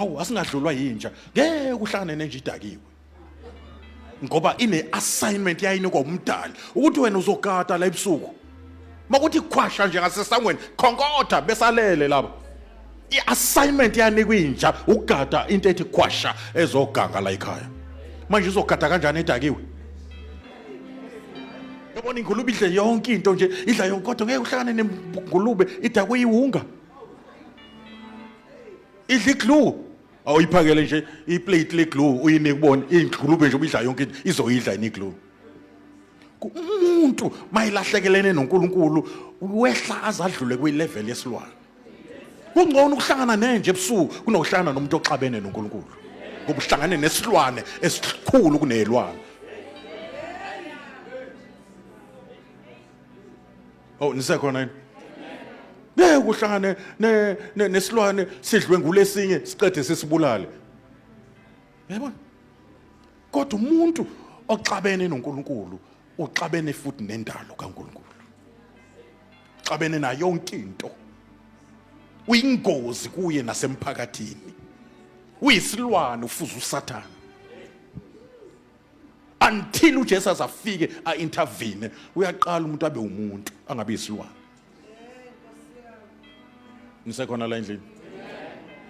hawu asingadlulwa yinja ngeke uhlangane nenja idakiwe ngoba ine assignment yayinikwa umdali ukuthi wena uzogada la ebusuku makuthi khwasha nje ngasesangweni khonkotha besalele laba i-assignment yanikwa inja ukugada into ethi khwasha ezoganga la ekhaya manje uzogada kanjani edakiwe yabona ingulube idle yonke into nje idla yonke kodwa ngeke uhlangane nengulube idakwe iwunga idla iglue awuyiphakele nje iplate leglue uyinike ubone ingqulube nje ubidla yonke into izoyidla yini iglue umuntu mayilahlekelene noNkulunkulu wehla azadlule kwilevel yesilwane kungcono ukuhlangana nenje ebusuku kunokuhlangana nomuntu oxabene noNkulunkulu ngoba uhlangane nesilwane esikhulu kunelwane Oh nisekhona yini? Ngeke kuhlangane ne ne- nesilwane sidlwe ngulesinye siqede sisibulale. Yabona? Kodwa umuntu oxabene noNkulunkulu uxabene futhi nendalo kaNkulunkulu. Uxabene nayo yonke into. Uyingozi kuye nasemphakathini. Uyisilwane ufuza uSathane. until uJesu azafike aintervene uyaqala umuntu abe umuntu angabe isilwane nisekhona la endlini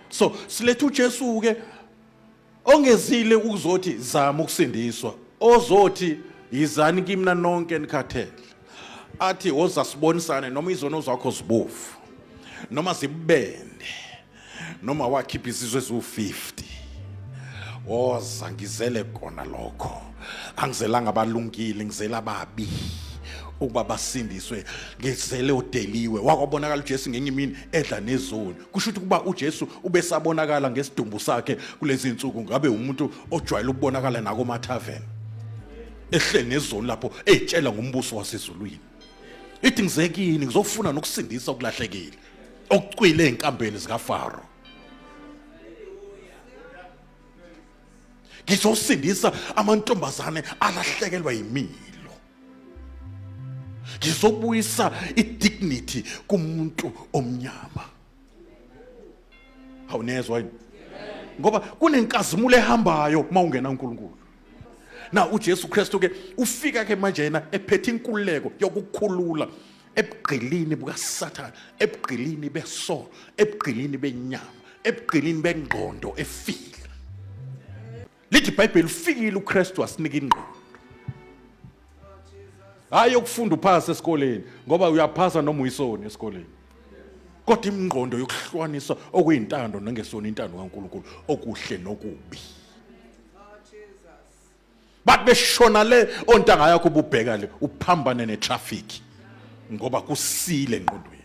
so siletha uJesu ke ongezile ukuzothi zama ukusindiswa ozothi yizani kimna nonke nikhathele athi woza sibonisane noma izono zakho zibovu noma zibende noma wakhipha izizwe eziwu-50 woza ngizele kona lokho angizelanga abalungile ngizela ababi ukuba basindiswe ngizele udeliwe wakwabonakala uJesu ngenye imini edla nezoni kusho ukuthi kuba uJesu ubesabonakala ngesidumbu sakhe kulezi insuku ngabe umuntu ojwayele ukubonakala nako mathaven ehle nezoni lapho ezitshela ngombuso wasezulwini ithi ngizekini ngizofuna nokusindisa okulahlekile okucwile ezinkambeni zikaFaro ngizosindisa amantombazane alahlekelwa yimilo ngizobuyisa idignity kumuntu omnyama awunezwa yini ngoba kunenkazimulo ehambayo uma ungena uNkulunkulu na uJesu Kristu ke ufika ke manje yena ephethe inkululeko yokukhulula ebugqilini bukasathane ebugqilini besono ebugqilini benyama ebugqilini bengqondo efile lithi ibhayibheli ufikile ukristu wasinika ingqondo hhayi yokufunda uphasa esikoleni ngoba uyaphasa noma uyisoni esikoleni kodwa imingqondo yokuhlukanisa okuyintando nengesona intando kaNkulunkulu okuhle nokubi bathi beshona le ontanga yakho ububheka le uphambane netraffic ngoba kusile ngqondweni